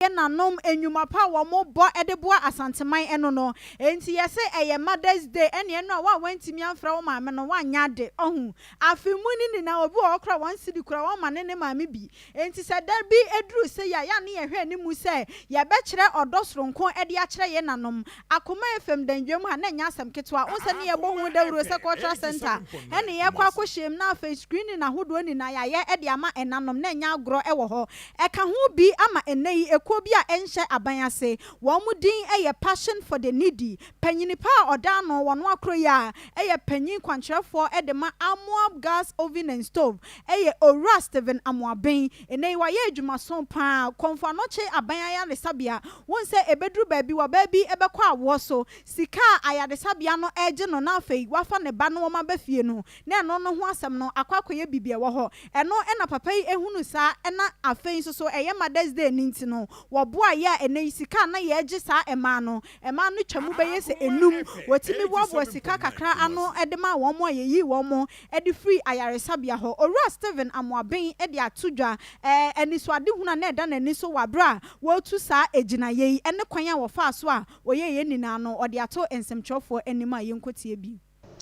yɛ nanom nnwuma pa a wɔn bɔ de boa asanteman ɛno no nti yɛse ɛyɛ mother's day ɛne ɛno a wo a wantumi amfrɛ wo maame no wanyɛ ade ɔho afe mu no nyinaa obi wɔhɔ koraa wɔn sidi koraa wɔn ma ne ne maame bi nti sɛ da bi ɛduru sei a yɛ a ne yɛhwɛ animu sɛ yɛbɛkyerɛ ɔdɔ soronko de akyerɛ yɛ nanom Akoma FM dandwam ha no nnyɛ asɛm ketewa. Wohu sɛ ne yɛbɔ ho dawuro sɛ cultural centre ne yɛkɔ akɔhyiam na afei screening ahodoɔ nyinaa yɛayɛ de ama ɛnanom na ɛnyɛ agorɔ wɔ hɔ. Ɛka ho bi ama ɛnnɛ yi ekuo bi a ɛnhyɛ aban ase. Wɔn din yɛ Passion for the Needy. Panyini pa a ɔda ano wɔ Noakro yi a yɛ panyin kwankyerɛfoɔ de ma Amoab Gas Oven and Stove yɛ Owura Stephen Amoaben. Ɛnnɛ yi wayɛ adwumaso pa ara. Kɔmfoano Kye Aban Ayaresabea. Wohu sɛ ɛbɛduru baabi wɔ ɔbaa bi bɛkɔ awoɔ so, sika a ayaresabea no regye no na afei wafa ne ba no wɔn aba fie no, na ɛno no ho asɛm no akɔ akɔyɛ biribi ɛwɔ hɔ. Ɛno na papa yi hunu saa na afei nso so ɛyɛ Mother's Day no nti no wɔboa yɛ a ɛnɛ yi sika a na yɛregye saa mmaa no, mmaa no twa mu bɛyɛ sɛ nnum, wɔtumi boaboa sika kakra ano de maa wɔn a yɛyii wɔn de firii ayaresabea hɔ. Owura Stephen Amoaben de ato dwa anisoadehunu a na ɛda n'ani so wɔ bere a wɔretu saa gyinaeɛ yi ne kwan a wɔfaa so a wɔyɛɛ yɛn nyinaa no, ɔde ato nsɛmtwerɛfoɔ anim a yɛnkɔtie bi.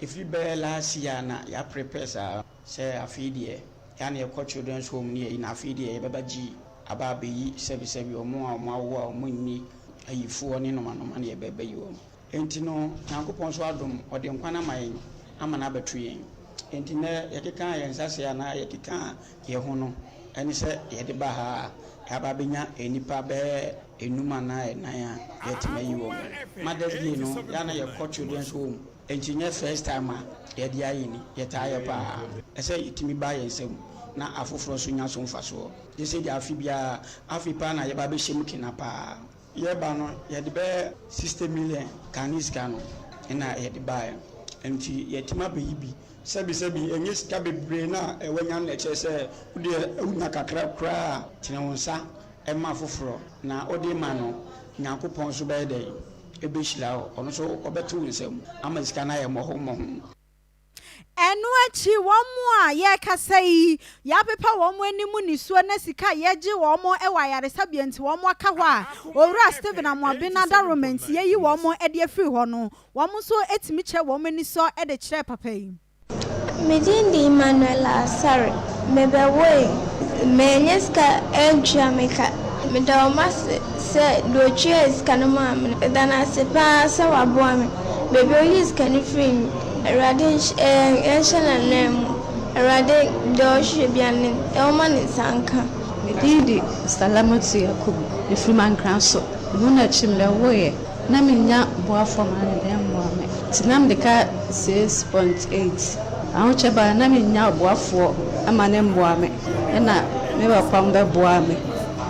Ɛfiri bɛyɛ last year a na yɛaprepare saa sɛ afei deɛ yɛ a na yɛkɔ children's home ne yei na afei deɛ yɛbɛba gyi aba abɛyi sɛbisɛbi wɔn a wɔawo a wɔnni ayifoɔ ne nomanoma na yɛbɛba yi wɔn. Enti no, Nyankopɔn nso adom, Ɔde nkwa no ama yɛn, ama no abɛto yɛn. Enti nnɛ, yɛkeka yɛn nsa ase anaa yɛkeka yɛn ho no, ɛne sɛ yɛde ba ha a, yɛaba abɛnya nnipa bɛyɛ nnum anaa nnan a yɛatumi ayi wɔn. Ma da biara no, yɛ a na yɛkɔ children's home, enti ɛnyɛ first time a yɛde ayɛ ni, yɛtaa yɛ paa. Ɛsɛ sɛ yɛtumi ba yɛn nsam na afoforɔ nso nya so mfasoɔ, gye sɛ yɛde afe biara, afei paa na yɛba abɛhyɛ mu kena paa. Yɛreba no, yɛde bɛyɛ sixty million Ghanaian sika no na yɛde baeɛ. Nti yɛatumi abɛyi bi. Sɛbisɛbi, ɛnyɛ sika bebree no a woanya no na ɛkyerɛ sɛ wo deɛ wonya kakra koraa a, tene wo nsa ma afoforɔ. Na wode rema no, Nyankopɔn nso bɛyɛ dɛn? Ɛbɛhyira wo. Ɔno nso ɔbɛto wo nsam ama sika no ayɛ mmɔho mmɔho. Ɛno akyi, wɔn a yɛrekasa yi, yɛapepa wɔn anim nisuo ne sika a yɛgye wɔn wɔ ayaresabea nti wɔaka hɔ a Owura Stephen Amoaben n'adaworoma nti yɛayi wɔn de afiri hɔ no, wɔn nso tumi kyerɛ wɔn anisɔ de kyerɛɛ papa yi. Me din de Emmanuella Asare. Mebɛwoe. Manya sika antua me ka. Meda wɔn ase. Sɛ deɛ ɔtuaa sika no maa me no, meda no ase pa ara sɛ waboa me. Baabi a ɔyii sika no firii no, Awurade nhyɛ nhyɛ n'anan mu. Awurade, deɛ ɔhwehwɛ biara no, ɔmma ne nsa nka. Me din de Salamatu Yakubu, mefiri Mankra so. Ɛno na akyi no mɛwoeɛ. Na mennya boafoɔ maa me dan mmoa me. Nti na mede ka six point eight. Ahokyɛ baa no na mennya ɔboafoɔ ma no mmoa me. Ɛna me papa bɛboaa me.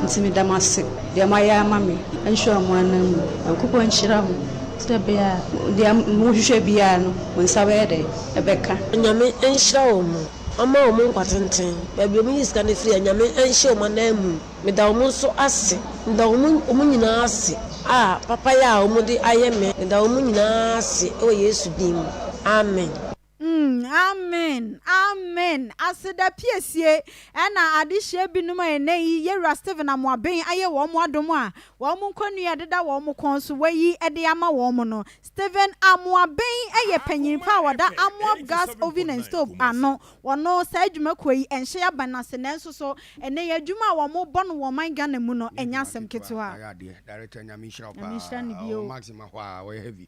Nti meda mo ase deɛ moayɛ ama me nhyira mo anan mu Nyankopɔn nhyira mo sɛdeɛ ɛbɛyɛ a deɛ mo hwehwɛ biara no mo nsa bɛyɛ dɛn ɛbɛka. Nyame nhyira wɔn mo ɔma wɔn nkwa tenten baabi wɔn yi sika no firi a Nyame nhyɛ wɔn anan mu meda wɔn nso ase meda wɔn nyinaa ase a papayɛ a wɔn de ayɛ me meda wɔn nyinaa ase wɔ Yesu din mu Amen. Mm amen amen aseda piesie ɛna adehyeɛ binom a ɛnɛ yi yɛwura Stephen Amoaben ayɛ wɔn mo adom a wɔn mo nkɔnua ɛdeda wɔn mo kɔn so wayi ɛde ama wɔn mo no Stephen Amoaben ɛyɛ panyin pa a wɔda Amoab Gas Oven and Stove ano wɔno saa adwuma kuo yi ɛnhyɛ yaban ase nanso so ɛnɛ yi adwuma a wɔn mo bɔ no wɔ ɔman Ghana mu no ɛnyɛ asɛm ketewa. Nyame nhyira no bio.